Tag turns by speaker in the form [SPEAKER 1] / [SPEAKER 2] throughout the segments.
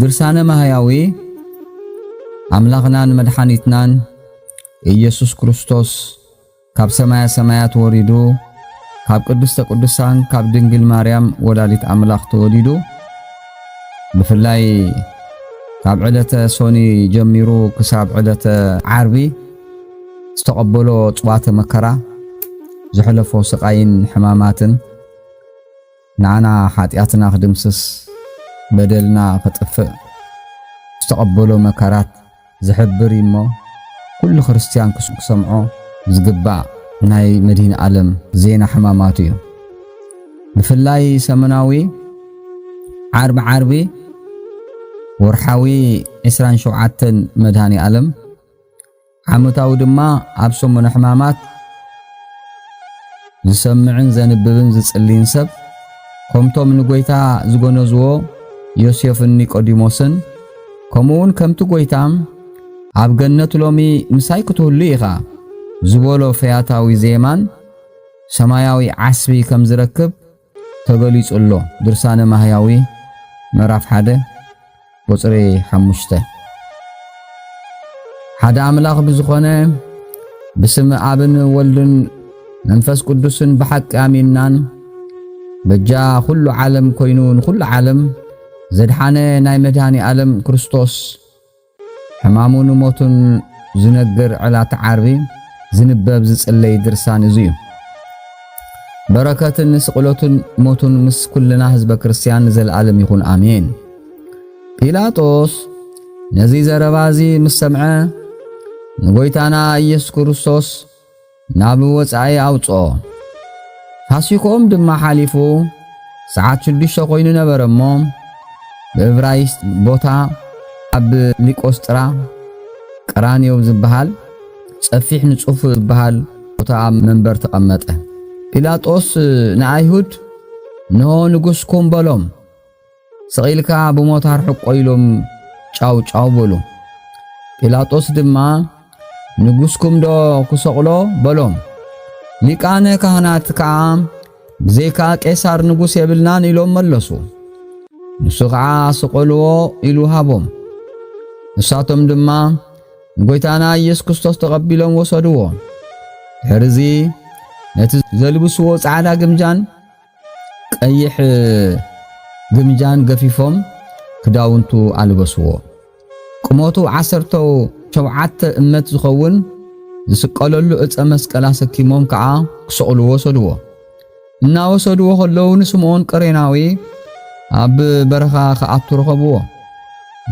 [SPEAKER 1] ድርሳነ ማህያዊ ኣምላኽናን መድሓኒትናን ኢየሱስ ክርስቶስ ካብ ሰማያ ሰማያት ወሪዱ ካብ ቅድስተ ቅዱሳን ካብ ድንግል ማርያም ወላዲት ኣምላኽ ተወሊዱ ብፍላይ ካብ ዕለተ ሶኒ ጀሚሩ ክሳብ ዕለተ ዓርቢ ዝተቐበሎ ጽዋተ መከራ ዘሕለፎ ስቓይን ሕማማትን ንዓና ሓጢኣትና ክድምስስ በደልና ክጥፍእ ዝተቐበሎ መከራት ዝሕብር እዩ እሞ ኩሉ ክርስትያን ክሰምዖ ዝግባእ ናይ መድህን ዓለም ዜና ሕማማቱ እዩ። ብፍላይ ሰሙናዊ ዓርቢ ዓርቢ ወርሓዊ 27 መድሃኒ ዓለም ዓመታዊ ድማ ኣብ ሰሙነ ሕማማት ዝሰምዕን ዘንብብን ዝጽልይን ሰብ ከምቶም ንጐይታ ዝጐነዝዎ ዮሴፍን ኒቆዲሞስን ከምኡውን ከምቲ ጐይታ ኣብ ገነት ሎሚ ምሳይ ክትህሉ ኢኻ ዝበሎ ፈያታዊ ዜማን ሰማያዊ ዓስቢ ከም ዝረክብ ተገሊጹ ኣሎ ድርሳነ ማህያዊ ምዕራፍ ሓደ ቁጽሪ ሓሙሽተ ሓደ ኣምላኽ ብዝኾነ ብስም ኣብን ወልድን መንፈስ ቅዱስን ብሓቂ ኣሚንናን በጃ ኩሉ ዓለም ኮይኑ ንኹሉ ዓለም ዘድሓነ ናይ መድኃኒ ዓለም ክርስቶስ ሕማሙ ንሞቱን ዝነግር ዕላት ዓርቢ ዝንበብ ዝጽለይ ድርሳን እዚ እዩ። በረከትን ስቕለቱን ሞቱን ምስ ኩልና ህዝበ ክርስቲያን ንዘለኣለም ይኹን ኣሜን። ጲላጦስ ነዚ ዘረባ እዚ ምስ ሰምዐ ንጎይታና ኢየሱስ ክርስቶስ ናብ ወጻኢ ኣውጽኦ። ፋሲክኦም ድማ ሓሊፉ ሰዓት ሽዱሽተ ኮይኑ ነበረ እሞ ብእብራይስጥ ቦታ ኣብ ሊቆስጥራ ቀራንዮ ዝበሃል ጸፊሕ ንጹፍ ዝበሃል ቦታ ኣብ መንበር ተቐመጠ። ጲላጦስ ንኣይሁድ እንሆ ንጉስኩም በሎም። ስቒልካ ብሞታር ሕቆ ኢሎም ጫው ጫው በሉ። ጲላጦስ ድማ ንጉስኩም ዶ ክሰቕሎ በሎም። ሊቃነ ካህናት ከዓ ብዘይካ ቄሳር ንጉስ የብልናን ኢሎም መለሱ። ንሱ ከዓ ስቐልዎ ኢሉ ሃቦም። ንሳቶም ድማ ንጐይታና ኢየሱስ ክርስቶስ ተቐቢሎም ወሰድዎ። ድሕርዚ ነቲ ዘልብስዎ ጻዕዳ ግምጃን ቀይሕ ግምጃን ገፊፎም ክዳውንቱ ኣልበስዎ። ቁመቱ ዓሰርተ ሸውዓተ እመት ዝኸውን ዝስቀለሉ ዕፀ መስቀል ኣሰኪሞም ከዓ ክሰቕሉ ወሰድዎ። እናወሰድዎ ከለዉ ንስምዖን ቀሬናዊ ኣብ በረኻ ክኣቱ ረኸብዎ።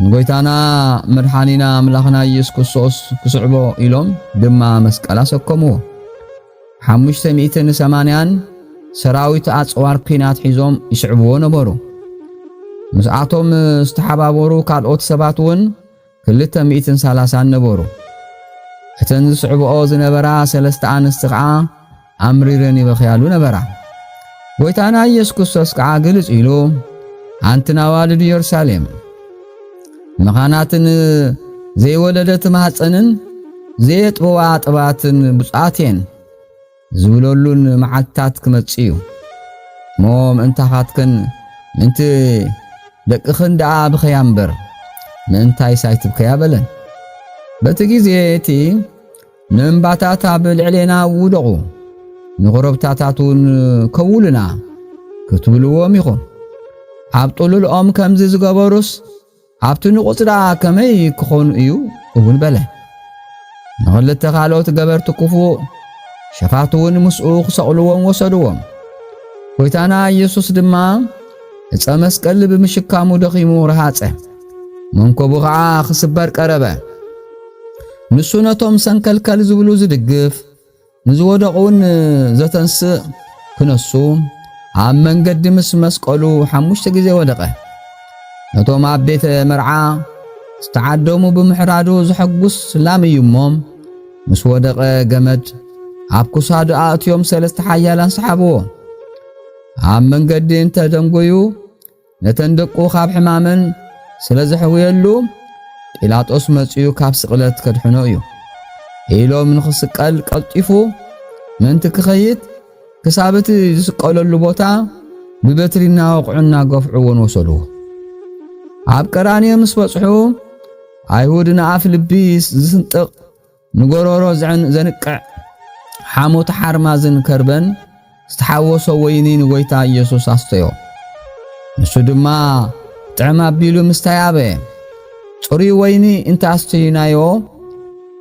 [SPEAKER 1] ንጎይታና መድሓኒና ኣምላኽና ኢየሱስ ክርስቶስ ክስዕቦ ኢሎም ድማ መስቀል ኣሰከምዎ። ሓሙሽተ ሚእትን ሰማንያን ሰራዊት ኣጽዋር ኲናት ሒዞም ይስዕብዎ ነበሩ። ምስኣቶም ዝተሓባበሩ ካልኦት ሰባት እውን ክልተ ሚእትን ሰላሳን ነበሩ። እተን ዝስዕብኦ ዝነበራ ሰለስተ ኣንስቲ ኸዓ ኣምሪረን ይበኽያሉ ነበራ። ጐይታና ኢየሱስ ክርስቶስ ከዓ ግልጽ ኢሉ ኣንትን ኣዋልድ ኢየሩሳሌም መኻናትን ዘይወለደት ማህፀንን ዘየጥበዋ ጥባትን ብፁዓት እየን ዝብለሉን መዓልትታት ክመጽእ እዩ እሞ ምእንታኻትክን ምእንቲ ደቅኽን ደኣ ብኸያ እምበር ምእንታይስ ኣይትብከያ በለን በቲ ግዜ እቲ ንእምባታት ኣብ ልዕሌና ውደቑ፣ ንዅረብታታት እውን ከውሉና ክትብልዎም ኢኹም። ኣብ ጥሉል ኦም ከምዚ ዝገበሩስ ኣብቲ ንቑጽ ደኣ ከመይ ክኾኑ እዩ እውን በለ። ንኽልተ ካልኦት ገበርቲ ክፉእ ሸፋቱ እውን ምስኡ ክሰቕልዎም ወሰድዎም። ጐይታና ኢየሱስ ድማ ዕፀ መስቀል ብምሽካሙ ደኺሙ ረሃፀ፣ መንኮቡ ኸዓ ክስበር ቀረበ። ንሱ ነቶም ሰንከልከል ዝብሉ ዝድግፍ፣ ንዝወደቑውን ዘተንስእ ክነሱ ኣብ መንገዲ ምስ መስቀሉ ሓሙሽተ ግዜ ወደቐ። ነቶም ኣብ ቤተ መርዓ ዝተዓደሙ ብምሕራዱ ዘሐጉስ ላም እዩ እሞ ምስ ወደቐ ገመድ ኣብ ክሳዱ ኣእትዮም ሰለስተ ሓያላን ሰሓብዎ። ኣብ መንገዲ እንተ ደንጎዩ ነተን ደቁ ኻብ ሕማመን ስለ ዘሕውየሉ ጲላጦስ መጺኡ ካብ ስቕለት ከድሕኖ እዩ ኢሎም ንኽስቀል ቀልጢፉ ምእንቲ ክኸይድ ክሳብ እቲ ዝስቀለሉ ቦታ ብበትሪ እናወቕዑ እናገፍዑ እውን ወሰድዎ። ኣብ ቀራንዮ ምስ በጽሑ ኣይሁድ ንኣፍ ልቢ ዝስንጥቕ ንጎሮሮ ዘንቅዕ ሓሞት ሓርማዝን ከርበን ዝተሓወሶ ወይኒ ንጎይታ ኢየሱስ ኣስተዮ። ንሱ ድማ ጥዕም ኣቢሉ ምስታይ ኣበየ። ጽሩይ ወይኒ እንተ ኣስተዩናዮ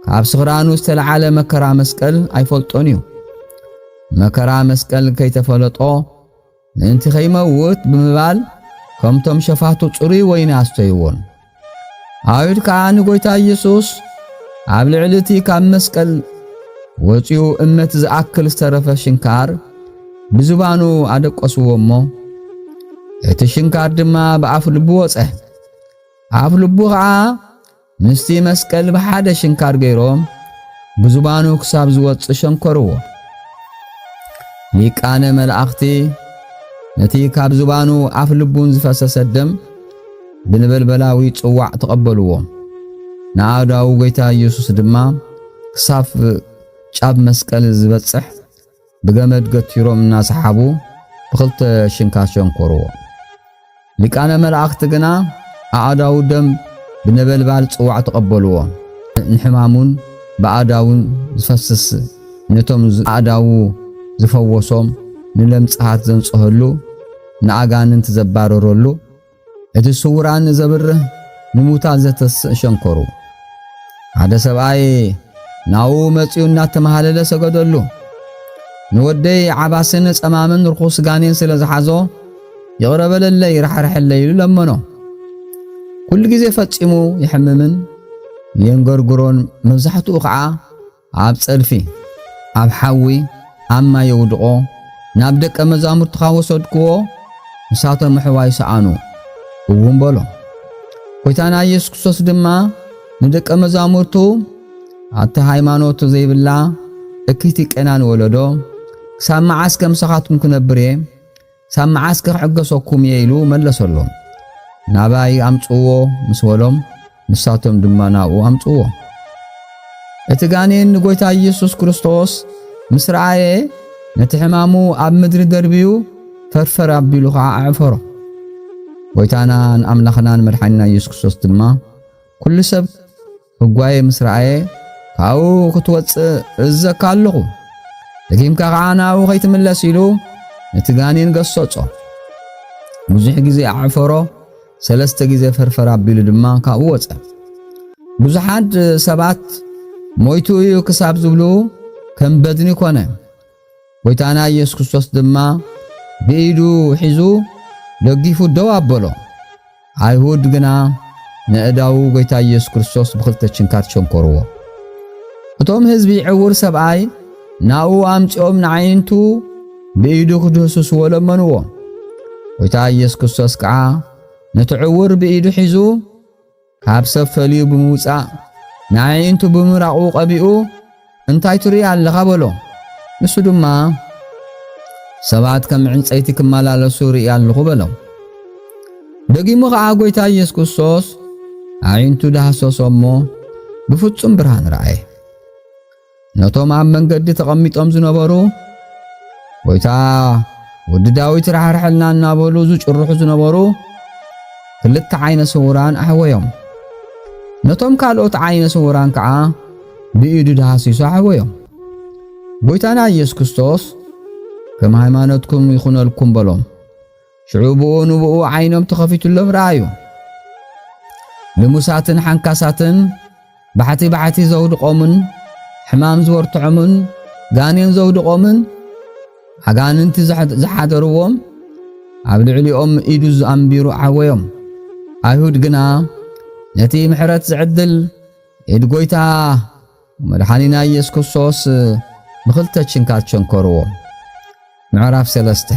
[SPEAKER 1] ካብ ስኽራኑ ዝተለዓለ መከራ መስቀል ኣይፈልጦን እዩ። መከራ መስቀል ከይተፈለጦ ምእንቲ ከይመውት ብምባል ከምቶም ሸፋቱ ጽሩይ ወይኒ ኣስተይዎን። ኣይሁድ ከኣ ንጐይታ ኢየሱስ ኣብ ልዕሊ እቲ ካብ መስቀል ወጺኡ እመት ዝኣክል ዝተረፈ ሽንካር ብዝባኑ ኣደቀስዎ እሞ እቲ ሽንካር ድማ ብኣፍ ልቡ ወጸ ኣፍ ልቡ ኸዓ ምስቲ መስቀል ብሓደ ሽንካር ገይሮም ብዝባኑ ክሳብ ዝወጽእ ሸንኮርዎ። ሊቃነ መላእኽቲ ነቲ ካብ ዝባኑ ኣፍ ልቡን ዝፈሰሰ ደም ብነበልበላዊ ጽዋዕ ተቐበልዎ። ንኣእዳው ጐይታ ኢየሱስ ድማ ክሳብ ጫብ መስቀል ዝበጽሕ ብገመድ ገቲሮም እናሰሓቡ ብኽልተ ሽንካ ሸንኮርዎ። ሊቃነ መላእኽቲ ግና ኣእዳዉ ደም ብነበልባል ጽዋዕ ተቐበልዎ። ንሕማሙን ብኣእዳዉን ዝፈስስ ነቶም ኣእዳዉ ዝፈወሶም ንለምጽሃት ዘንጽሀሉ ንኣጋንንቲ ዘባረረሉ እቲ ስውራን ዘብርህ ንሙታት ዘተስእ ሸንኮሩ ሓደ ሰብኣይ ናው መጺኡ እናተመሃለለ ሰገደሉ። ንወደይ ዓባስን ጸማምን ርኹስ ጋኔን ስለ ዝሓዞ ይቕረ በለለይ ራሕርሐለይ ኢሉ ለመኖ። ኩሉ ግዜ ፈጺሙ ይሕምምን የንገርግሮን፣ መብዛሕትኡ ኸዓ ኣብ ጸድፊ፣ ኣብ ሓዊ፣ ኣብ ማይ የውድቖ፣ ናብ ደቀ መዛሙርትኻ ወሰድክዎ፣ ንሳቶም ኣሕዋይ ሰኣኑ፣ እውን በሎ። ጐይታና ኢየሱስ ክርስቶስ ድማ ንደቀ መዛሙርቱ ኣቲ ሃይማኖት ዘይብላ እክይቲ ቄናን ወለዶ ክሳብ መዓስ ከምሳኻትኩም ክነብር እየ? ክሳብ መዓስ ክሕገሰኩም እየ ኢሉ መለሰሎም። ናባይ ኣምጽዎ ምስ በሎም ንሳቶም ድማ ናብኡ ኣምጽዎ። እቲ ጋኔን ንጎይታ ኢየሱስ ክርስቶስ ምስ ረኣየ ነቲ ሕማሙ ኣብ ምድሪ ደርብዩ ፈርፈር ኣቢሉ ኸዓ ኣዕፈሮ። ጎይታናን ኣምላኽናን መድሓኒና ኢየሱስ ክርስቶስ ድማ ኩሉ ሰብ እጓየ ምስ ረኣየ ካብኡ ክትወጽእ እዘካ ኣለኹ ደጊምካ ኸዓ ናብኡ ከይትምለስ ኢሉ ነቲ ጋኔን ገሰጾ። ብዙሕ ግዜ ኣዕፈሮ፣ ሰለስተ ግዜ ፈርፈር ኣቢሉ ድማ ካብኡ ወጸ። ብዙሓት ሰባት ሞይቱ እዩ ክሳብ ዝብሉ ከም በድኒ ኮነ። ጐይታና ኢየሱስ ክርስቶስ ድማ ብኢዱ ሒዙ ደጊፉ ደው ኣበሎ። ኣይሁድ ግና ነእዳዉ ጐይታ ኢየሱስ ክርስቶስ ብኽልተ ችንካር ቸንኰርዎ። እቶም ህዝቢ ዕውር ሰብኣይ ናኡ ኣምጺኦም ንዓይንቱ ብኢዱ ክድህስስዎ ለመንዎ። ጐይታ ኢየሱስ ክርስቶስ ከዓ ነቲ ዕውር ብኢዱ ሒዙ ካብ ሰብ ፈልዩ ብምውጻእ ንኣዒንቱ ብምራቑ ቀቢኡ እንታይ ትርኢ ኣለኻ በሎ። ንሱ ድማ ሰባት ከም ዕንጸይቲ ክመላለሱ ርኢ ኣለኹ በሎ። ደጊሙ ኸኣ ጐይታ ኢየሱስ ክርስቶስ ኣዒንቱ ዳህሰሶ እሞ ብፍጹም ብርሃን ረኣየ። ነቶም ኣብ መንገዲ ተቐሚጦም ዝነበሩ ጐይታ ወዲ ዳዊት ራሕርሐልና እናበሉ ዝጭርሑ ዝነበሩ ክልተ ዓይነ ስውራን ኣሕወዮም። ነቶም ካልኦት ዓይነ ስውራን ከዓ ብኢዱ ዳሃሲሱ ኣሕወዮም። ጐይታና ኢየሱስ ክርስቶስ ከም ሃይማኖትኩም ይኹነልኩም በሎም። ሽዑ ብኡ ንብኡ ዓይኖም ተኸፊቱሎም ረኣዩ። ልሙሳትን ሓንካሳትን ባሕቲ ባሕቲ ዘውድቖምን ሕማም ዝወርትዖምን ጋኔን ዘውድቖምን ኣጋንንቲ ዝሓደርዎም ኣብ ልዕሊኦም ኢዱ ኣንቢሩ ዓወዮም። ኣይሁድ ግና ነቲ ምሕረት ዝዕድል ኢድ ጐይታ መድሓኒና ኢየሱስ ክርስቶስ ብኽልተ ችንካር ቸንከርዎ። ምዕራፍ ሰለስተ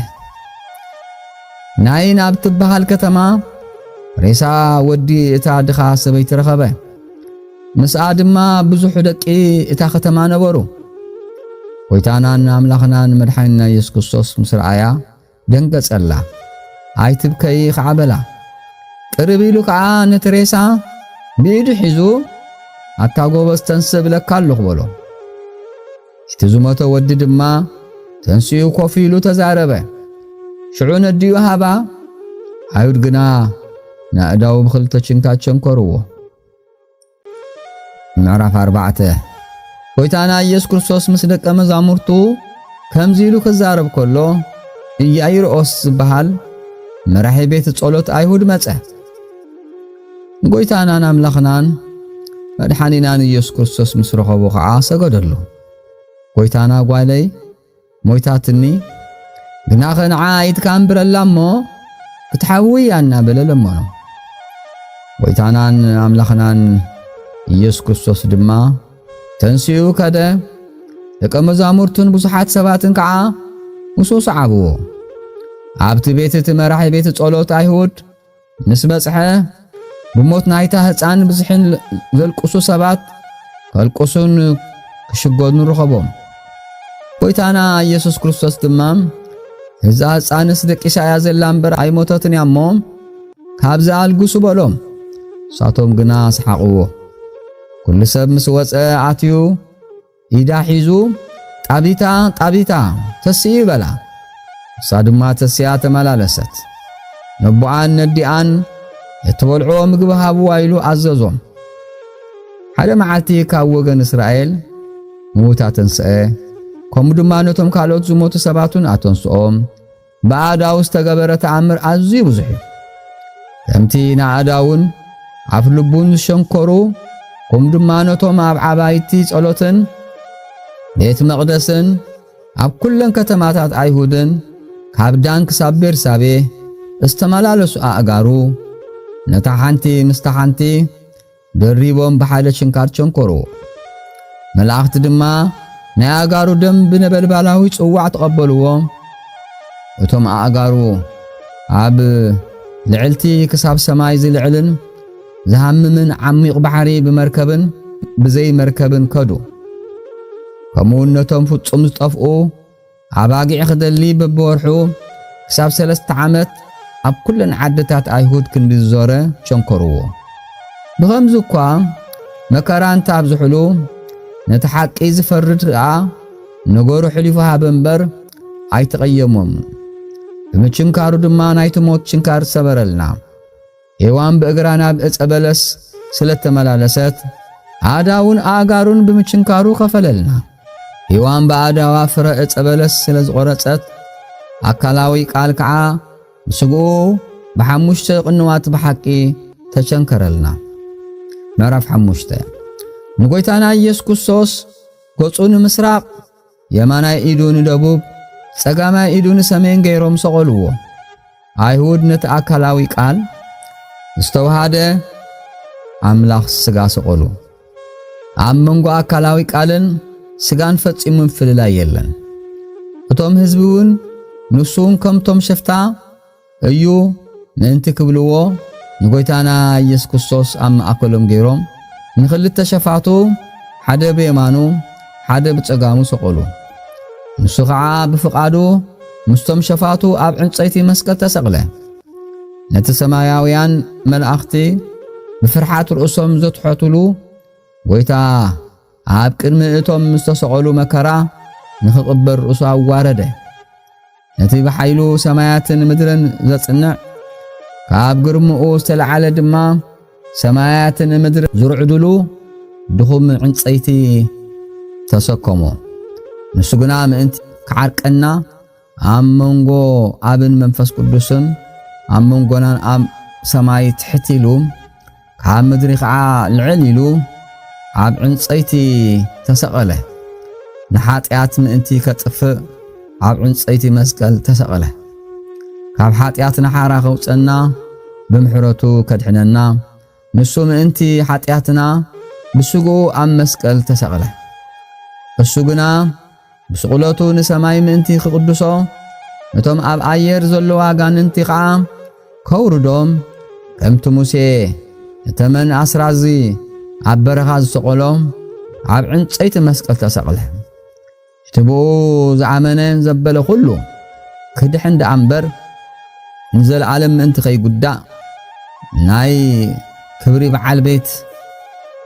[SPEAKER 1] ናይን ኣብ ትበሃል ከተማ ሬሳ ወዲ እታ ድኻ ሰበይቲ ረኸበ። ምስኣ ድማ ብዙሕ ደቂ እታ ከተማ ነበሩ። ጐይታናን ኣምላኽናን መድሓኒና ኢየሱስ ክርስቶስ ምስ ረኣያ ደንገጸላ። ኣይትብከዪ ኸዓ በላ። ቅርብ ኢሉ ከኣ ነቲ ሬሳ ብኢዱ ሒዙ ኣታ ጎበዝ ተንስ እብለካ ኣለኹ በሎ። እቲ ዝሞተ ወዲ ድማ ተንስኡ ኮፍ ኢሉ ተዛረበ። ሽዑ ነዲኡ ሃባ፣ ኣይሁድ ግና ንኣእዳዉ ብኽልተ ችንካት ቸንከርዎ። ምዕራፍ ኣርባዕተ ጐይታና ኢየሱስ ክርስቶስ ምስ ደቀ መዛሙርቱ ከምዚ ኢሉ ክዛረብ ከሎ ኢያኢሮስ ዝበሃል መራሒ ቤት ጸሎት ኣይሁድ መጸ። ንጐይታናን ኣምላኽናን መድሓኒናን ኢየሱስ ክርስቶስ ምስ ረኸቦ ኸዓ ሰገደሉ። ጐይታና ጓለይ ሞይታትኒ ግናኸ ንዓ ኢድካ ኣንብረላ እሞ ክትሓዊ እያ እናበለ ለመኖ። ጐይታናን ኣምላኽናን ኢየሱስ ክርስቶስ ድማ ተንሲኡ ከደ፣ ደቀ መዛሙርቱን ብዙሓት ሰባትን ከዓ ምስኡ ሰዓብዎ። ኣብቲ ቤት እቲ መራሒ ቤት ጸሎት ኣይሁድ ምስ በጽሐ ብሞት ናይታ ህፃን ብዝሕን ዘልቅሱ ሰባት ከልቅሱን ክሽጎኑ ረኸቦም። ጎይታና ኢየሱስ ክርስቶስ ድማ እዛ ህፃንስ ደቂሳ እያ ዘላ እምበር ኣይሞተትን እያ እሞ ካብዚ ኣልግሱ በሎም። ንሳቶም ግና ሰሓቕዎ። ኩሉ ሰብ ምስ ወፀ ኣትዩ ኢዳ ሒዙ ጣቢታ ጣቢታ ተስኢ በላ። ንሳ ድማ ተሲኣ ተመላለሰት። ነቦኣን ነዲኣን እትበልዕዎ ምግቢ ሃብዋ ኢሉ ኣዘዞም። ሓደ መዓልቲ ካብ ወገን እስራኤል ምዉት ኣተንስአ፣ ከምኡ ድማ ነቶም ካልኦት ዝሞቱ ሰባቱን ኣተንስኦም። ብኣእዳው ዝተገበረ ተኣምር ኣዝዩ ብዙሕ እዩ። ከምቲ ንኣእዳውን ኣፍ ልቡን ዝሸንኮሩ ኩም ድማ ነቶም ኣብ ዓባይቲ ጸሎትን ቤት መቕደስን ኣብ ኩለን ከተማታት ኣይሁድን ካብ ዳን ክሳብ ቤርሳቤ ዝተመላለሱ ኣእጋሩ ነታ ሓንቲ ምስታ ሓንቲ ደሪቦም ብሓይለ ችንካር ቸንኮሩ። መላእኽቲ ድማ ናይ ኣእጋሩ ደም ብነበልባላዊ ጽዋዕ ተቐበልዎ። እቶም ኣእጋሩ ኣብ ልዕልቲ ክሳብ ሰማይ ዝልዕልን ዝሃምምን ዓሚቕ ባሕሪ ብመርከብን ብዘይ መርከብን ከዱ። ከምኡውን ነቶም ፍጹም ዝጠፍኡ ኣባጊዕ ክደሊ በብወርሑ ክሳብ ሰለስተ ዓመት ኣብ ኩለን ዓድታት ኣይሁድ ክንዲ ዝዞረ ሸንኮርዎ። ብኸምዚ እኳ መከራ እንተ ኣብዝሕሉ ነቲ ሓቂ ዝፈርድ ከኣ ነገሩ ሕሊፉ ሃበ እምበር ኣይተቐየሞም። ብምችንካሩ ድማ ናይቲ ሞት ችንካር ሰበረልና። ሔዋን ብእግራ ናብ ዕፀ በለስ ስለተመላለሰት ኣእዳውን ኣእጋሩን ብምችንካሩ ከፈለልና። ሔዋን ብኣእዳዋ ፍረ ዕፀ በለስ ስለ ዝቖረፀት ኣካላዊ ቃል ከዓ ብስግኡ ብሓሙሽተ ቅንዋት ብሓቂ ተቸንከረልና። ምዕራፍ ሓሙሽተ ንጐይታና ኢየሱስ ክርስቶስ ገጹ ንምስራቕ የማናይ ኢዱ ንደቡብ ጸጋማይ ኢዱ ንሰሜን ገይሮም ሰቐልዎ። ኣይሁድ ነቲ ኣካላዊ ቃል ዝተዋሃደ ኣምላኽ ስጋ ሰቐሉ። ኣብ መንጎ ኣካላዊ ቃልን ስጋን ፈጺሙ ምፍልላይ የለን። እቶም ህዝቢ እውን ንሱውን ከምቶም ሸፍታ እዩ ምእንቲ ክብልዎ ንጎይታና ኢየሱስ ክርስቶስ ኣብ ማእከሎም ገይሮም ንኽልተ ሸፋቱ ሓደ ብየማኑ ሓደ ብጸጋሙ ሰቐሉ። ንሱ ኸዓ ብፍቓዱ ምስቶም ሸፋቱ ኣብ ዕንጸይቲ መስቀል ተሰቕለ። ነቲ ሰማያውያን መላእኽቲ ብፍርሓት ርእሶም ዘትሐቱሉ ጎይታ ኣብ ቅድሚ እቶም ምስ ተሰቐሉ መከራ ንኽቕበል ርእሱ ኣዋረደ። ነቲ ብሓይሉ ሰማያትን ምድርን ዘጽንዕ ካብ ግርምኡ ዝተለዓለ ድማ ሰማያትን ምድሪ ዝርዕድሉ ድኹም ዕንጸይቲ ተሰከሞ። ንሱ ግና ምእንቲ ክዓርቀና ኣብ መንጎ ኣብን መንፈስ ቅዱስን ኣብ መንጎናን ኣብ ሰማይ ትሕት ኢሉ ካብ ምድሪ ኸዓ ልዕል ኢሉ ኣብ ዕንፀይቲ ተሰቐለ። ንሓጢኣት ምእንቲ ከጥፍእ ኣብ ዕንፀይቲ መስቀል ተሰቐለ። ካብ ሓጢኣት ንሓራ ከውፀና ብምሕረቱ ከድሕነና ንሱ ምእንቲ ሓጢኣትና ብስግኡ ኣብ መስቀል ተሰቕለ። እሱ ግና ብስቕለቱ ንሰማይ ምእንቲ ክቕድሶ፣ ነቶም ኣብ ኣየር ዘለዉ ኣጋንንቲ ኸዓ ከውርዶም፣ ከምቲ ሙሴ ንተመን ኣስራዚ ኣብ በረኻ ዝሰቐሎ፣ ኣብ ዕንጸይቲ መስቀል ተሰቕለ። እቲ ብኡ ዝኣመነ ዘበለ ኩሉ ክድሕን ደኣ እምበር ንዘለዓለም ምእንቲ ከይጉዳእ ናይ ክብሪ በዓል ቤት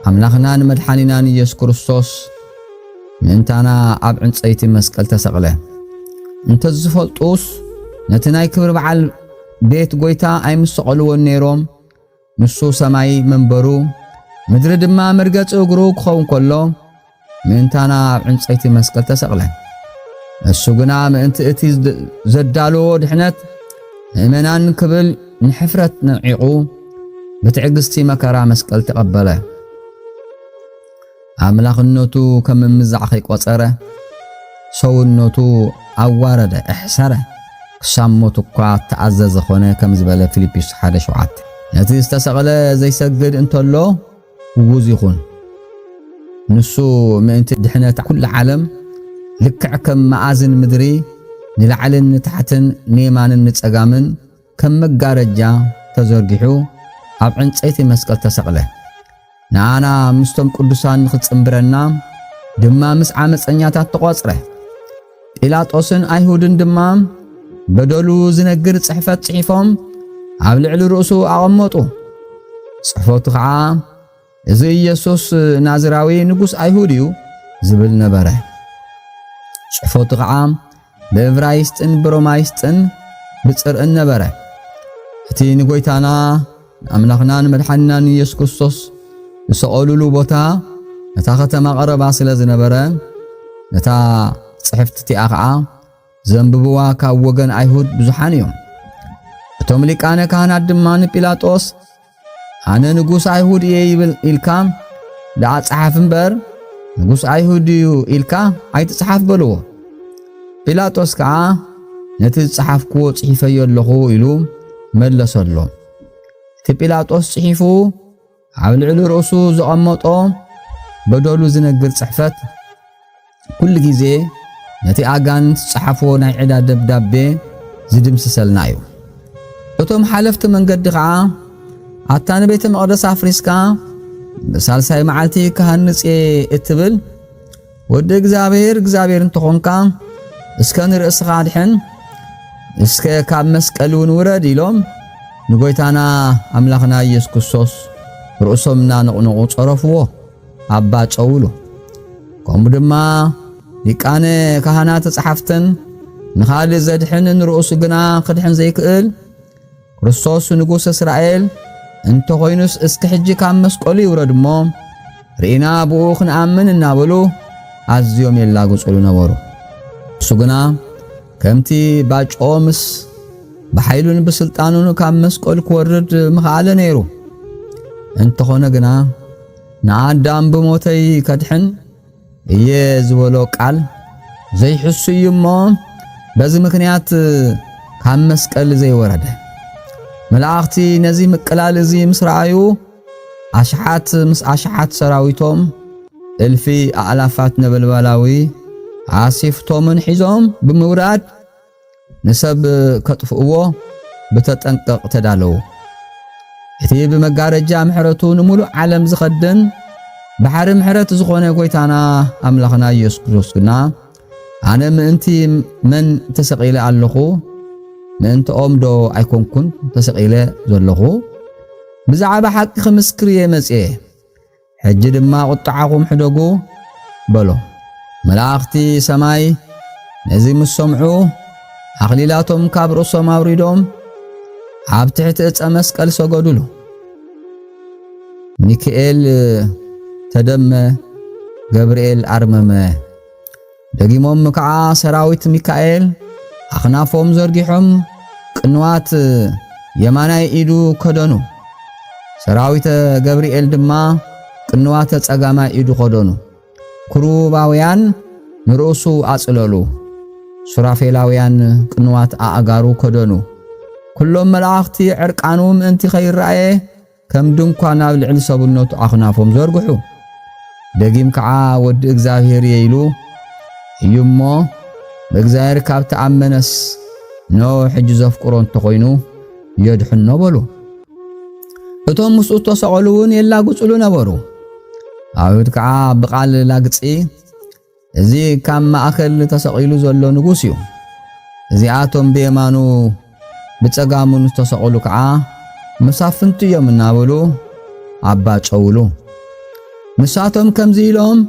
[SPEAKER 1] ኣምላኽናን መድሓኒናን ኢየሱስ ክርስቶስ ምእንታና ኣብ ዕንፀይቲ መስቀል ተሰቕለ እንተዝፈልጡስ ነቲ ናይ ክብሪ በዓል ቤት ጎይታ ኣይምሰቐልዎን ነይሮም ንሱ ሰማይ መንበሩ ምድሪ ድማ መርገጺ እግሩ ክኸውን ከሎ ምእንታና ኣብ ዕንጸይቲ መስቀል ተሰቕለ። ንሱ ግና ምእንቲ እቲ ዘዳልዎ ድሕነት ምእመናን ክብል ንሕፍረት ንዒቑ ብትዕግስቲ መከራ መስቀል ተቐበለ። ኣምላኽነቱ ከም ምምዛዕ ከይቈጸረ ሰውነቱ ኣዋረደ፣ ኣሕሰረ፣ ክሳብ ሞት እኳ እተኣዘዘ ዀነ ከም ዝበለ ፊልጵስ ሓደ ሸውዓተ። ነቲ ዝተሰቕለ ዘይሰግድ እንተሎ ግጉዝ ይኹን። ንሱ ምእንቲ ድሕነት ኵላ ዓለም ልክዕ ከም መኣዝን ምድሪ ንላዕልን ንታሕትን ንየማንን ንጸጋምን ከም መጋረጃ ተዘርጊሑ ኣብ ዕንጸይቲ መስቀል ተሰቕለ። ንኣና ምስቶም ቅዱሳን ንኽጽምብረና ድማ ምስ ዓመጸኛታት ተቖጽረ። ጲላጦስን ኣይሁድን ድማ በደሉ ዝነግር ጽሕፈት ጽሒፎም ኣብ ልዕሊ ርእሱ ኣቐመጡ። ጽሕፈቱ ኸዓ እዚ ኢየሱስ ናዝራዊ ንጉስ ኣይሁድ እዩ ዝብል ነበረ። ጽሑፎቱ ኸዓ ብእብራይስጥን ብሮማይስጥን ብጽርዕን ነበረ። እቲ ንጎይታና ንኣምላኽናን መድሓንናን ኢየሱስ ክርስቶስ ዝሰቐሉሉ ቦታ ነታ ኸተማ ቐረባ ስለ ዝነበረ ነታ ጽሕፍቲ እቲኣ ኸዓ ዘንብብዋ ካብ ወገን ኣይሁድ ብዙሓን እዮም። እቶም ሊቃነ ካህናት ድማ ንጲላጦስ ኣነ ንጉስ ኣይሁድ እየ ይብል ኢልካ ደኣ ጸሓፍ እምበር ንጉስ ኣይሁድ እዩ ኢልካ ኣይትጽሓፍ በልዎ። ጲላጦስ ከዓ ነቲ ዝጸሓፍክዎ ጽሒፈዮ ኣለኹ ኢሉ መለሰሎም። እቲ ጲላጦስ ጽሒፉ ኣብ ልዕሊ ርእሱ ዘቐመጦ በደሉ ዝነግር ጽሕፈት ኩሉ ግዜ ነቲ ኣጋንንት ዝጸሓፍዎ ናይ ዕዳ ደብዳቤ ዝድምስሰልና እዩ። እቶም ሓለፍቲ መንገዲ ኸዓ ኣታ ንቤተ መቕደስ ኣፍሪስካ ብሳልሳይ መዓልቲ ክሃንጽ እየ እትብል ወዲ እግዚኣብሔር እግዚኣብሔር እንተኾንካ እስከ ንርእስኻ ኣድሕን እስከ ካብ መስቀል እውን ውረድ ኢሎም ንጎይታና ኣምላኽና ኢየሱስ ክርስቶስ ርእሶም እናነቕነቑ ጸረፍዎ ኣባ ጨውሉ ከምኡ ድማ ሊቃነ ካህናት ጸሓፍትን ንኻልእ ዘድሕን ንርእሱ ግና ክድሕን ዘይክእል ክርስቶስ ንጉሥ እስራኤል እንተኾይኑስ እስኪ ሕጂ ካብ መስቀሉ ይውረድ እሞ ርኢና ብኡ ክንኣምን እናበሉ ኣዝዮም የላግጹሉ ነበሩ። እሱ ግና ከምቲ ባጭኦ ምስ ብሓይሉን ብስልጣኑን ካብ መስቀል ክወርድ ምኽኣለ ነይሩ። እንተኾነ ግና ንኣዳም ብሞተይ ከድሕን እየ ዝበሎ ቃል ዘይሕሱ እዩ እሞ በዚ ምክንያት ካብ መስቀል ዘይወረደ መላእኽቲ ነዚ ምቅላል እዚ ምስ ረኣዩ ኣሽሓት ምስ ኣሽሓት ሰራዊቶም እልፊ ኣእላፋት ነበልባላዊ ኣሴፍቶምን ሒዞም ብምውራድ ንሰብ ከጥፍእዎ ብተጠንቀቕ ተዳለዉ። እቲ ብመጋረጃ ምሕረቱ ንምሉእ ዓለም ዝኸድን ባሕሪ ምሕረት ዝኾነ ጎይታና ኣምላኽና ኢየሱስ ክርስቶስ ግና ኣነ ምእንቲ መን ተሰቒለ ኣለኹ? ምእንትኦም ዶ ኣይኮንኩን ተሰቒለ ዘለኹ? ብዛዕባ ሓቂ ክምስክር እየ መጽየ። ሕጂ ድማ ቝጥዓኹም ሕደጉ በሎ። መላእኽቲ ሰማይ ነዚ ምስ ሰምዑ፣ ኣኽሊላቶም ካብ ርእሶም ኣውሪዶም ኣብ ትሕቲ ዕፀ መስቀል ሰገዱሉ። ሚካኤል ተደመ፣ ገብርኤል ኣርመመ። ደጊሞም ከዓ ሰራዊት ሚካኤል ኣኽናፎም ዘርጊሖም ቅንዋት የማናይ ኢዱ ከደኑ። ሰራዊተ ገብርኤል ድማ ቅንዋተ ጸጋማይ ኢዱ ከደኑ። ክሩባውያን ንርእሱ ኣጽለሉ። ሱራፌላውያን ቅንዋት ኣእጋሩ ከደኑ። ኩሎም መላእኽቲ ዕርቃኑ ምእንቲ ኸይረኣየ ከም ድንኳን ኣብ ልዕሊ ሰብነቱ ኣኽናፎም ዘርግሑ። ደጊም ከዓ ወዲ እግዚኣብሔር እየ ኢሉ እዩ እሞ ብእግዚኣብሔር ካብ ተኣመነስ ኖ ሕጂ ዘፍቅሮ እንተኾይኑ የድሕኖ በሉ። እቶም ምስኡ እተሰቐሉ እውን የላግጽሉ ነበሩ። ኣይሁድ ከዓ ብቓል ላግጺ እዚ ካብ ማእከል ተሰቒሉ ዘሎ ንጉስ እዩ። እዚኣቶም ብየማኑ ብጸጋሙን ዝተሰቕሉ ከዓ መሳፍንቱ እዮም እናበሉ ኣባጨውሉ። ንሳቶም ከምዚ ኢሎም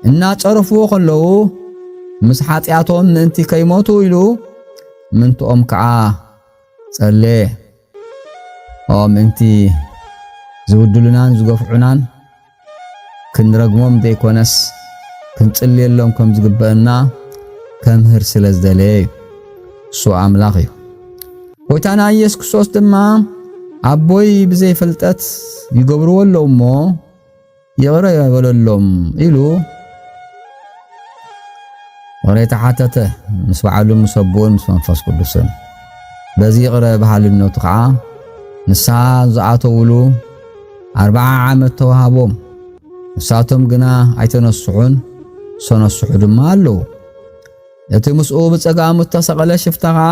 [SPEAKER 1] እናጸረፍዎ ከለዉ ምስ ሓጢኣቶም ምእንቲ ከይሞቱ ኢሉ ምንትኦም ከዓ ጸለየ። ኦ ምእንቲ ዝብድሉናን ዝገፍዑናን ክንረግሞም ዘይኮነስ ክንጽልየሎም ከም ዝግበአና ከምህር ስለ ዝደለየ እዩ። እሱ ኣምላኽ እዩ። ጐይታና ኢየሱስ ክርስቶስ ድማ ኣቦይ ብዘይ ፍልጠት ይገብርዎ ኣለዉ እሞ ይቕረ በለሎም ኢሉ ይቕሬታ ሓተተ ምስ በዓሉ ምስ ኣቦኡን ምስ መንፈስ ቅዱስን። በዚ ይቕረ በሃልነቱ ከዓ ንስሓ ዝኣተውሉ ኣርብዓ ዓመት ተዋሃቦም። ንሳቶም ግና ኣይተነስሑን፣ ዝተነስሑ ድማ ኣለዉ። እቲ ምስኡ ብጸጋሙ እተሰቐለ ሽፍታ ከዓ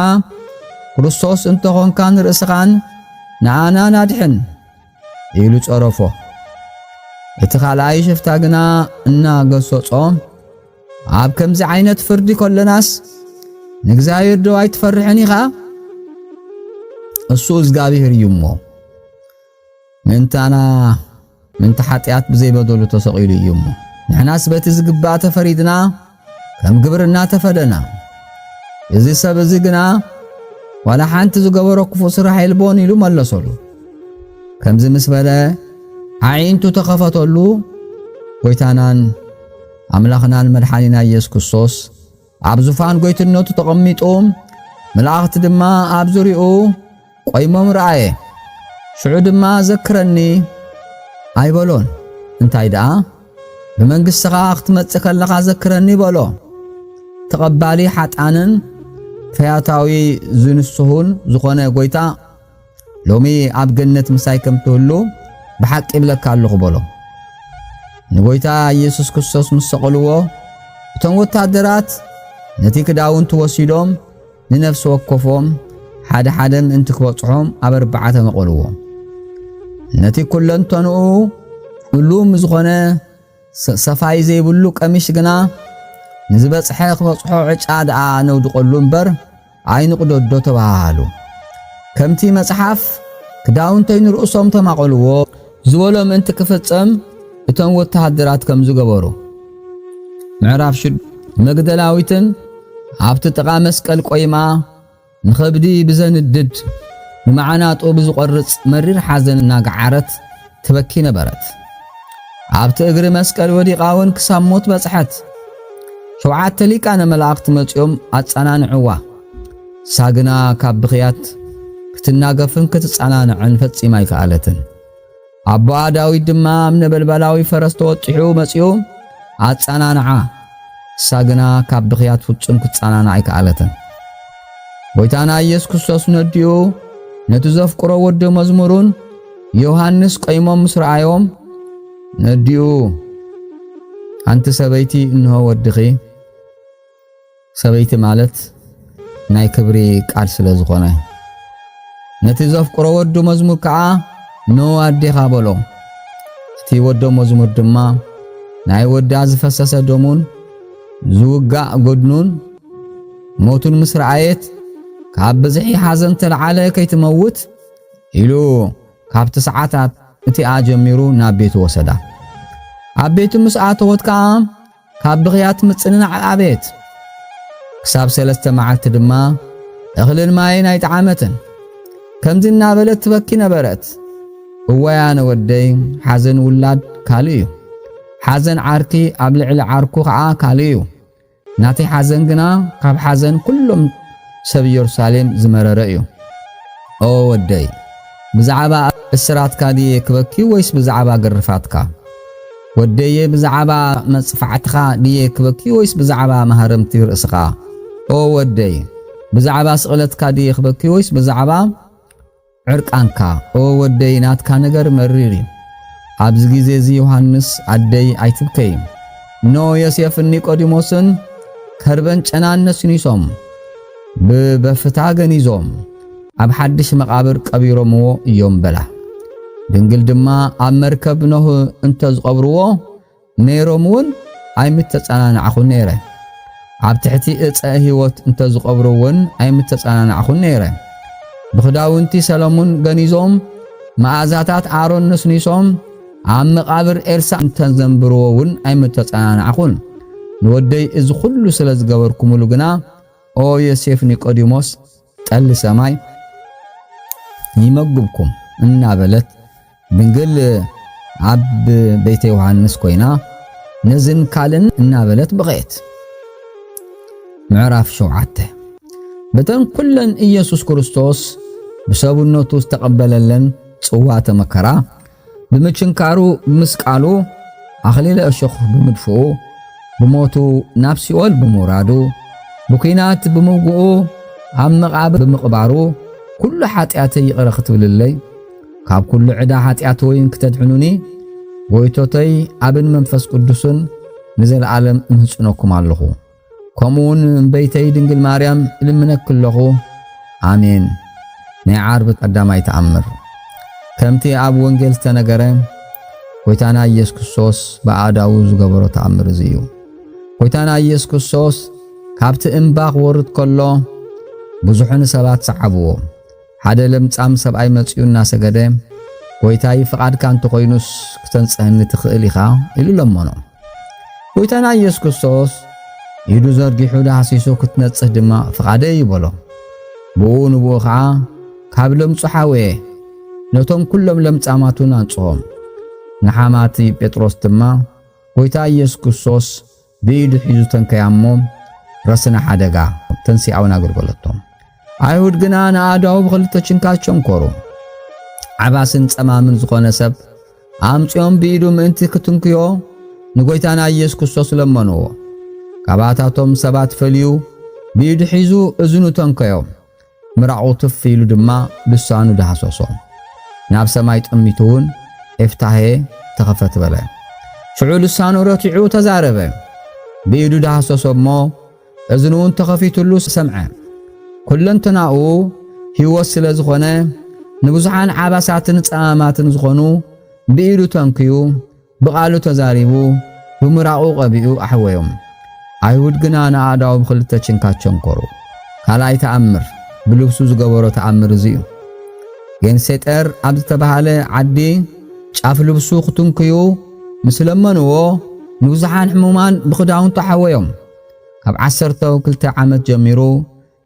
[SPEAKER 1] ክርስቶስ እንተኾንካ ንርእስኻን ንኣናን ኣድሕን ኢሉ ጸረፎ። እቲ ካልኣይ ሽፍታ ግና እናገሰጾ ኣብ ከምዚ ዓይነት ፍርዲ ከሎናስ ንእግዚኣብሔር ዶ ኣይትፈርሕን ኢኻ? እሱ እግዚኣብሔር እዩ እሞ ምእንታና ምእንቲ ሓጢኣት ብዘይበደሉ ተሰቒሉ እዩ እሞ ንሕናስ በቲ ዝግባእ ተፈሪድና ከም ግብርና ተፈደና። እዚ ሰብ እዚ ግና ዋላ ሓንቲ ዝገበሮ ክፉእ ስራሕ የልቦን ኢሉ መለሰሉ። ከምዚ ምስ በለ ኣዒንቱ ተኸፈተሉ። ጎይታናን ኣምላኽናን መድሓኒና ኢየሱስ ክርስቶስ ኣብ ዙፋን ጎይትነቱ ተቐሚጡ መላእኽቲ ድማ ኣብ ዙርያኡ ቆይሞም ረኣየ። ሽዑ ድማ ዘክረኒ ኣይበሎን፣ እንታይ ደኣ ብመንግሥትኻ ክትመጽእ ከለኻ ዘክረኒ በሎ። ተቐባሊ ሓጣንን ፈያታዊ ዝንስሁን ዝኾነ ጐይታ ሎሚ ኣብ ገነት ምሳይ ከም ትህሉ ብሓቂ ይብለካ ኣለኹ በሎ። ንጐይታ ኢየሱስ ክርስቶስ ምስ ሰቐልዎ እቶም ወታደራት ነቲ ክዳውንቲ ወሲዶም ንነፍሲ ወከፎም ሓደ ሓደ ምእንቲ ክበጽሖም ኣብ ኣርባዕተ መቐልዎም ነቲ ኩለንተንኡ እሉም ዝኾነ ሰፋይ ዘይብሉ ቀሚሽ ግና ንዝበጽሐ ክበጽሖ ዕጫ ደኣ ነውድቐሉ እምበር ኣይንቕደዶ ተባሃሃሉ። ከምቲ መጽሓፍ ክዳውንተይ ንርእሶም ተማቐልዎ ዝበሎ ምእንቲ ክፍጸም እቶም ወተሃደራት ከም ዝገበሩ ምዕራፍ ሽዱ መግደላዊትን ኣብቲ ጥቓ መስቀል ቆይማ ንኸብዲ ብዘንድድ ንመዓናጡ ብዝቖርጽ መሪር ሓዘን እናገዓረት ትበኪ ነበረት። ኣብቲ እግሪ መስቀል ወዲቓ እውን ክሳብ ሞት በጽሐት። ሸውዓተ ሊቃነ መላእኽቲ መጺኦም ኣጸናንዕዋ። ሳግና ካብ ብኽያት ክትናገፍን ክትጸናንዕን ፈጺማ ኣይከኣለትን። ኣቦኣ ዳዊት ድማ ኣብ ነበልባላዊ ፈረስ ተወጢሑ መጺኡ ኣጸናንዓ። ሳግና ካብ ብኽያት ፍጹም ክትጸናንዕ ኣይከኣለትን። ጐይታና ኢየሱስ ክርስቶስ ነዲኡ ነቲ ዘፍቅሮ ወዲ መዝሙሩን ዮሐንስ ቀይሞም ምስ ረኣዮም ነዲኡ ኣንቲ ሰበይቲ እንሆ ወድኺ ሰበይቲ ማለት ናይ ክብሪ ቃል ስለ ዝኾነ ነቲ ዘፍቅሮ ወዱ መዝሙር ከዓ ን ኣዴኻ በሎ እቲ ወዶ መዝሙር ድማ ናይ ወዳ ዝፈሰሰ ደሙን ዝውጋእ ጎድኑን ሞቱን ምስ ረኣየት ካብ ብዝሒ ሓዘን ተለዓለ ከይትመውት ኢሉ ካብቲ ሰዓታት እቲኣ ጀሚሩ ናብ ቤቱ ወሰዳ ኣብ ቤቱ ምስ ኣተወት ከዓ ካብ ብኽያት ምጽንናዕ ኣቤት! ክሳብ ሰለስተ መዓልቲ ድማ እኽልን ማይን ኣይጠዓመትን። ከምዚ እናበለት ትበኪ ነበረት። እዋይ ኣነ ወደይ ሓዘን ውላድ ካልእ እዩ። ሓዘን ዓርኪ ኣብ ልዕሊ ዓርኩ ኸዓ ካልእ እዩ። ናተይ ሓዘን ግና ካብ ሓዘን ኩሎም ሰብ ኢየሩሳሌም ዝመረረ እዩ። ኦ ወደይ! ብዛዕባ እስራትካ ድየ ክበኪ ወይስ ብዛዕባ ግርፋትካ? ወደየ ብዛዕባ መጽፋዕትኻ ድየ ክበኪ ወይስ ብዛዕባ ማህረምቲ ርእስኻ? ኦ ወደይ፣ ብዛዕባ ስቕለትካ ድየ ክበኪ ወይስ ብዛዕባ ዕርቃንካ? ኦ ወደይ፣ ናትካ ነገር መሪር እዩ። ኣብዚ ግዜ እዚ ዮሃንስ፣ ኣደይ ኣይትብከይ። እነሆ ዮሴፍን ኒቆዲሞስን ከርበን ጨናን ነስኒሶም። ብበፍታ ገኒዞም ኣብ ሓድሽ መቓብር ቀቢሮምዎ እዮም በላ። ድንግል ድማ ኣብ መርከብ ኖህ እንተ ዝቐብርዎ ነይሮም እውን ኣይምተጸናናዕኹን ነይረ። ኣብ ትሕቲ እፀ ህይወት እንተ ዝቐብሩ እውን ኣይምተጸናናዕኹን ነይረ። ብኽዳውንቲ ሰለሙን ገኒዞም መኣዛታት ኣሮን ነስኒሶም ኣብ መቓብር ኤልሳ እንተዘንብርዎ እውን ኣይምተጸናናዕኹን። ንወደይ እዚ ዅሉ ስለ ዝገበርኩምሉ ግና ኦ ዮሴፍ ኒቆዲሞስ ጠሊ ሰማይ ይመግብኩም እናበለት ድንግል ኣብ ቤተ ዮሐንስ ኮይና ነዝን ካልን እናበለት በቐየት። ምዕራፍ ሸውዓተ በተን ኩለን ኢየሱስ ክርስቶስ ብሰብነቱ ዝተቐበለለን ጽዋተ መከራ ብምችንካሩ ብምስቃሉ ኣኽሊለ እሾኽ ብምድፍኡ ብሞቱ ናብ ሲኦል ብምውራዱ ብኲናት ብምውግኡ ኣብ መቓብር ብምቕባሩ ኩሉ ሓጢኣተይ ይቕረ ክትብልለይ ካብ ኩሉ ዕዳ ሓጢኣት ወይን ክተድሕኑኒ ጎይቶተይ ኣብን መንፈስ ቅዱስን ንዘለዓለም እምህጽነኩም ኣለኹ። ከምኡውን እምበይተይ ድንግል ማርያም እልምነኪ ኣለኹ። ኣሜን። ናይ ዓርቢ ቀዳማይ ተኣምር ከምቲ ኣብ ወንጌል ዝተነገረ ጎይታና ኢየሱስ ክርስቶስ ብኣእዳዉ ዝገበሮ ተኣምር እዚ እዩ። ጎይታና ኢየሱስ ክርስቶስ ካብቲ እምባ ክወርድ ከሎ ብዙሕን ሰባት ሰዓብዎ። ሓደ ለምጻም ሰብኣይ መጺኡ እናሰገደ፣ ጐይታይ፣ ፍቓድካ እንተ ዀይኑስ ክተንጽሀኒ ትኽእል ኢኻ ኢሉ ለመኖ። ጐይታና ኢየሱስ ክርስቶስ ኢዱ ዘርጊሑ ዳህሲሱ ክትነጽህ ድማ ፍቓደይ እዩ በሎ። ብኡ ንብኡ ኸዓ ካብ ለምጹ ሓወየ፣ ነቶም ኵሎም ለምጻማቱን ኣንጽሆም። ንሓማቲ ጴጥሮስ ድማ ጐይታ ኢየሱስ ክርስቶስ ብኢዱ ሒዙ ተንከያሞ ረስነ ሓደጋ ተንሲኣውን ኣገልገለቶም። ኣይሁድ ግና ንኣእዳዉ ብኽልተ ችንካር ቸንኮሩ። ዓባስን ጸማምን ዝኾነ ሰብ ኣምጺኦም ብኢዱ ምእንቲ ክትንክዮ ንጐይታና ኢየሱስ ክርስቶስ ለመንዎ። ካባታቶም ሰባት ፈልዩ ብኢዱ ሒዙ እዝኑ ተንከዮ። ምራቑ ትፍ ኢሉ ድማ ልሳኑ ዳህሰሶ። ናብ ሰማይ ጠሚቱ'ውን ኤፍታሄ ተኸፈት በለ። ሽዑ ልሳኑ ረቲዑ ተዛረበ። ብኢዱ ዳህሰሶ እሞ እዝኑ'ውን ተኸፊቱሉ ሰምዐ። ኩለንተናኡ ህይወት ስለ ዝኾነ ንብዙሓን ዓባሳትን ጸማማትን ዝኾኑ ብኢዱ ተንክዩ ብቓሉ ተዛሪቡ ብምራቑ ቀቢኡ ኣሕወዮም። ኣይሁድ ግና ንኣእዳዉ ብኽልተ ችንካት ቸንኰሩ። ካልኣይ ተኣምር፣ ብልብሱ ዝገበሮ ተኣምር እዚ እዩ። ጌንሴጠር ኣብ ዝተባህለ ዓዲ ጫፍ ልብሱ ክትንክዩ ምስ ለመንዎ ንብዙሓን ሕሙማን ብኽዳውንቱ ኣሕወዮም። ካብ ዓሰርተው ክልተ ዓመት ጀሚሩ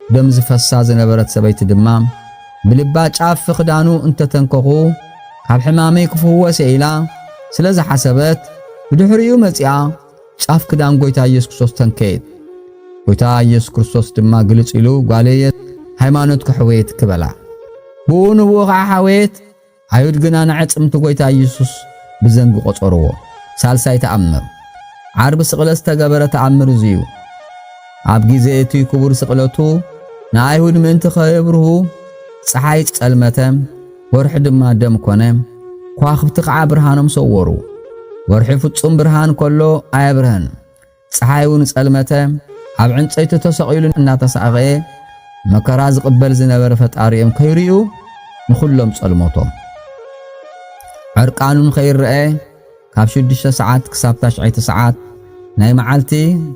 [SPEAKER 1] ደም ዝፈሳ ዝነበረት ሰበይቲ ድማ ብልባ ጫፍ ክዳኑ እንተተንከኹ ካብ ሕማመይ ክፍወስ እየ ኢላ ስለ ዝሓሰበት ብድሕሪኡ መጺኣ ጫፍ ክዳን ጎይታ ኢየሱስ ክርስቶስ ተንከየት። ጎይታ ኢየሱስ ክርስቶስ ድማ ግልጽ ኢሉ ጓለየ ሃይማኖት ክሕወየት ክበላ ብኡ ንብኡ ኸዓ ሓወየት። ኣይሁድ ግና ንኣዕጽምቲ ጐይታ ኢየሱስ ብዘንጊ ቈጸርዎ። ሳልሳይ ተኣምር። ዓርቢ ስቕለት ዝተገበረ ተኣምር እዚ እዩ። ኣብ ጊዜ እቲ ክቡር ስቕለቱ ንኣይሁድ ምእንቲ ከየብርሁ ጸሓይ ጸልመተ፣ ወርሒ ድማ ደም ኮነ፣ ከዋኽብቲ ኸዓ ብርሃኖም ሰወሩ። ወርሒ ፍጹም ብርሃን ከሎ ኣየብርሀን። ጸሓይ'ውን ጸልመተ፣ ኣብ ዕንጸይቲ ተሰቒሉ እናተሳቐየ መከራ ዝቕበል ዝነበረ ፈጣሪኦም ከይርእዩ ንኹሎም ጸልሞቶም። ዕርቃኑ ንኸይረኤ ካብ ሽዱሽተ ሰዓት ክሳብ ታሽዐይቲ ሰዓት ናይ መዓልቲ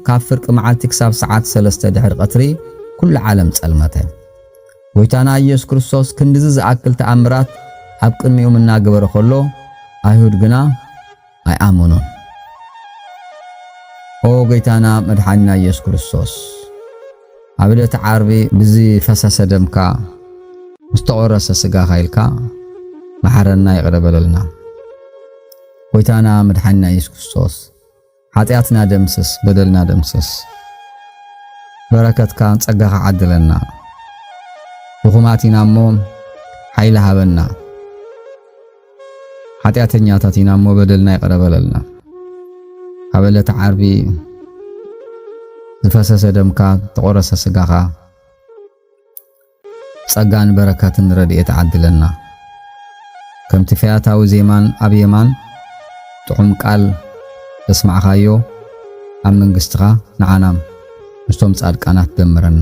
[SPEAKER 1] ካብ ፍርቂ መዓልቲ ክሳብ ሰዓት ሰለስተ ድሕሪ ቐትሪ ኩሉ ዓለም ጸልመተ። ጎይታና ኢየሱስ ክርስቶስ ክንድዚ ዝኣክል ተኣምራት ኣብ ቅድሚኡም እናገበረ ከሎ ኣይሁድ ግና ኣይኣመኑን። ኦ ጎይታና መድሓኒና ኢየሱስ ክርስቶስ ኣብ ዕለተ ዓርቢ ብዝፈሰሰ ደምካ ምስ ተቖረሰ ስጋኻ ኢልካ መሓረና ይቕረ በለልና። ጎይታና መድሓኒና ኢየሱስ ክርስቶስ ሓጢኣትና ደምስስ፣ በደልና ደምስስ፣ በረከትካን ጸጋኻ ዓድለና። ድኹማት ኢና እሞ ሓይሊ ሃበና። ሓጢኣተኛታት ኢና እሞ በደልና ይቕረ በለልና። ኣብ ዕለተ ዓርቢ ዝፈሰሰ ደምካ ተቆረሰ ስጋኻ ጸጋን በረከትን ረድኤት ዓድለና። ከምቲ ፈያታዊ ዜማን ኣብ የማን ጥዑም ቃል ዘስማዕኻዮ ኣብ መንግስትኻ ንዓናም ምስቶም ጻድቃናት ደምረና።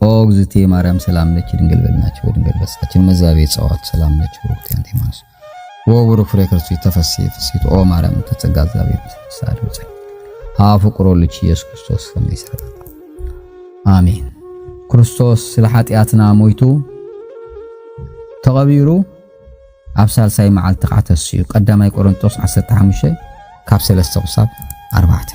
[SPEAKER 1] ኦ እግዝእትየ ማርያም ሰላም ለኪ ድንግል በልናች ወድንግል በሳችን መዛቤ ጸዋት ሰላም ለኪ ብሩክቲ አንቲ ማንስ ወቡሩክ ፍሬ ክርስቶስ ተፈሲ ፍሲት ኦ ማርያም ተጸጋ እግዚአብሔር ሳዱ ጸ አፍቅሮ ልጅ ኢየሱስ ክርስቶስ ሰማይ ሰጣ አሜን። ክርስቶስ ስለ ኃጢአትና ሞይቱ ተቐቢሩ ኣብ ሳልሳይ መዓልቲ ከዓ ተስኡ ቀዳማይ ቆሮንጦስ 15 ካብ 3 ክሳብ 4